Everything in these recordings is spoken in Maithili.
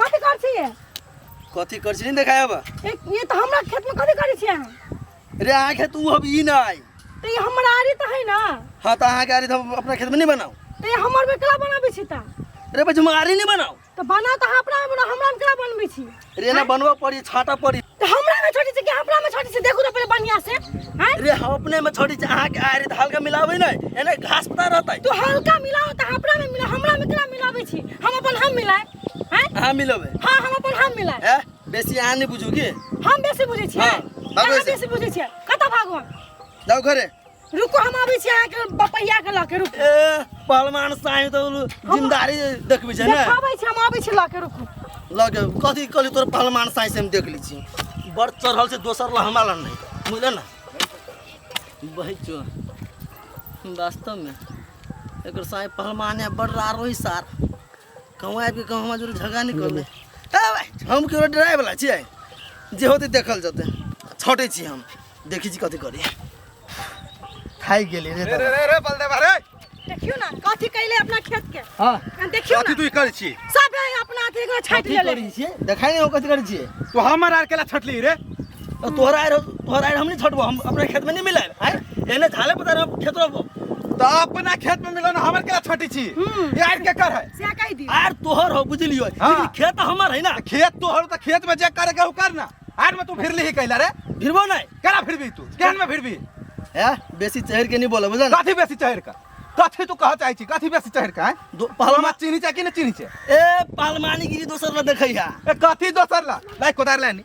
कथी कर छिए कथी कर छी नहीं देखायब ये तो हमरा खेत में कथी कर छिए रे अहाँ खेत उ अब ई ना आई तो ये हमरा आरी तो है ना हां तो अहाँ के आरी तो अपना खेत में नहीं बनाओ तो ये हमर में कला बनाबे छी ता रे बजमारी नहीं बनाओ तो बना तो अपना हमरा हमरा में कला बनबे छी रे ना बनवा पड़ी छाटा पड़ी तो हमरा में छोटी से के हमरा में छोटी से देखू तो पहले बढ़िया से हैं अरे हम अपने में छोड़ी छै अहाँ के आरे त हल्का मिलाबै नै एने घास पता रहतै तो हल्का मिलाओ तो हमरा में मिला हमरा में केना मिलाबै छी हम अपन हम मिलाए हैं अहाँ मिलबै हां हम अपन हम मिलाए ए बेसी अहाँ नै बुझू की हम बेसी बुझै छियै हाँ, भागो अहाँ से। बेसी बुझै छियै कतऽ भागू हम जाऊ घरे रुको हम आबै छी अहाँके बपैया के लऽ के रुक ए पहलवान साईं तो जिमदारी देखबी छै ने देखाबै छी हम आबै छी लऽ के रुकू लगे कथी कहली तोर पहलवान साईं से हम देख ली छी बड़ चढ़ल छै दोसर ला हमरा ला नहीं बुझले ना बहै चो वास्तव में एकर साईं पहलवान है बड़ रार वही सार कहूँ आबि कऽ हमरा जोरे झगड़ा नहि करबै हम केओ डरायवला छियै जे होतै देखल जेतै छटै छी हम देखै छी कथी करी खाइ गेली रे रे रे रे बलदेव रे देखियो ना कथी कैले अपना खेत के हां हम देखियो ना कथी तू कर छी सब अपना अथी के छाट लेले देखाई नहीं हो कथी कर छी तो हमर आर केला छटली रे तो तोहरा आए रहो- तोहरा आए हम नहीं छोड़बो हम अपने खेत में नहीं मिले आए एने झाले पता रहो खेत रहो तो अपना खेत में मिलन हमर के छोटी छी हम्म। ये आर के कर है से कहि दियो आर तोहर हो बुझलियो हाँ। लेकिन खेत हमर है ना तो खेत तो हर तो खेत में जे करे गहू कर ना आर में तू फिर ली कैला रे फिरबो नहीं करा फिर भी तू केहन में फिर भी है बेसी चहर के नहीं बोला बुझल कथी बेसी चहर का कथी तू कह चाहे छी कथी बेसी चहर का है दो पहलमा पहलमा चीनी चाहे कि ना चीनी चाहे ए पहलमानी गिरी दोसर ला देखै है ए कथी दोसर ला लाइक कोदार लानी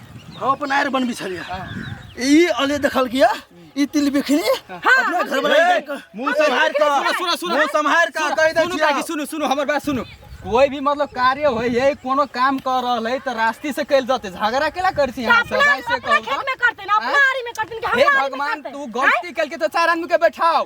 हम अपन आयर बनबी छलियै ई अले देखल किया ई तिल बिखनी अपना घर वाला के कर- मुंह संभार का सुनो, सुनो, सुनो। मुंह संभार का कह दे सुनू काकी सुनू सुनू हमर बात सुनू कोई भी मतलब कार्य होय है कोनो काम कर रहल है तो रास्ते से कैल जाते झगड़ा केला करती यहाँ सब अपना ऐसे अपना कहू खेत में करते ना अपना आरी में करते ना कि हे हमारा आरी में भगवान करते। तू गलती कैल के तो चार आदमी के बैठाओ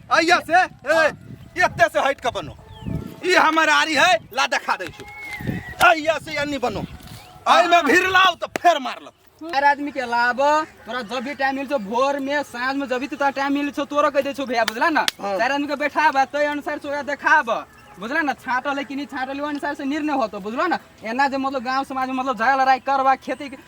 अइया से ए, एते से हट के बनो ई हमर आरी है ला देखा दै छु अइया से अन्नी बनो आई में भीड़ लाओ तो फेर मार लो हर आदमी के लाभ तोरा जब भी टाइम मिलछो भोर में साँझ में जब भी तोरा टाइम मिलछो तोरो कह दे छो भैया बुझला ना हाँ। चार आदमी के बैठाब तय अनुसार से ओकरा देखाब बुझला ना छाटल है कि नहीं छाटल है, ओहि अनुसार से निर्णय होतो बुझलो ना एना जे मतलब गांव समाज में मतलब झगड़ा लड़ाई करबा खेती के-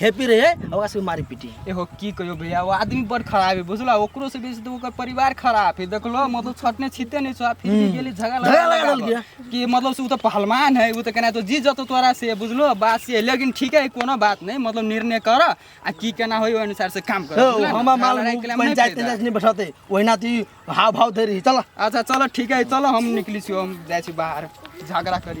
हैप्पी रहे आ ओकरा सबके मारी पीटी एहो की कहियो भैया वो आदमी बड़ खराब है बुझला ओकरो से बेसी तो ओकर परिवार खराब है देखलो मतलब छटने छीते नहीं छो फिर भी गेली झगड़ा झगड़ा लगा लगावल। देलकै। कि मतलब से उ तो पहलवान है उ तो केना तो जीत जतो तोरा से बुझलो बात से लेकिन ठीक है कोनो बात नहीं मतलब निर्णय कर आ की केना होई ओइ अनुसार से काम कर बुझला ने? हम माल लड़ाई के लिए हम नहीं पंचायत फायदा। पंचायत नहीं बैठाते ओहिना तू हाव भाव धरी चल अच्छा चलो ठीक है चलो हम निकली छी हम जाइ छी बाहर झगड़ा करी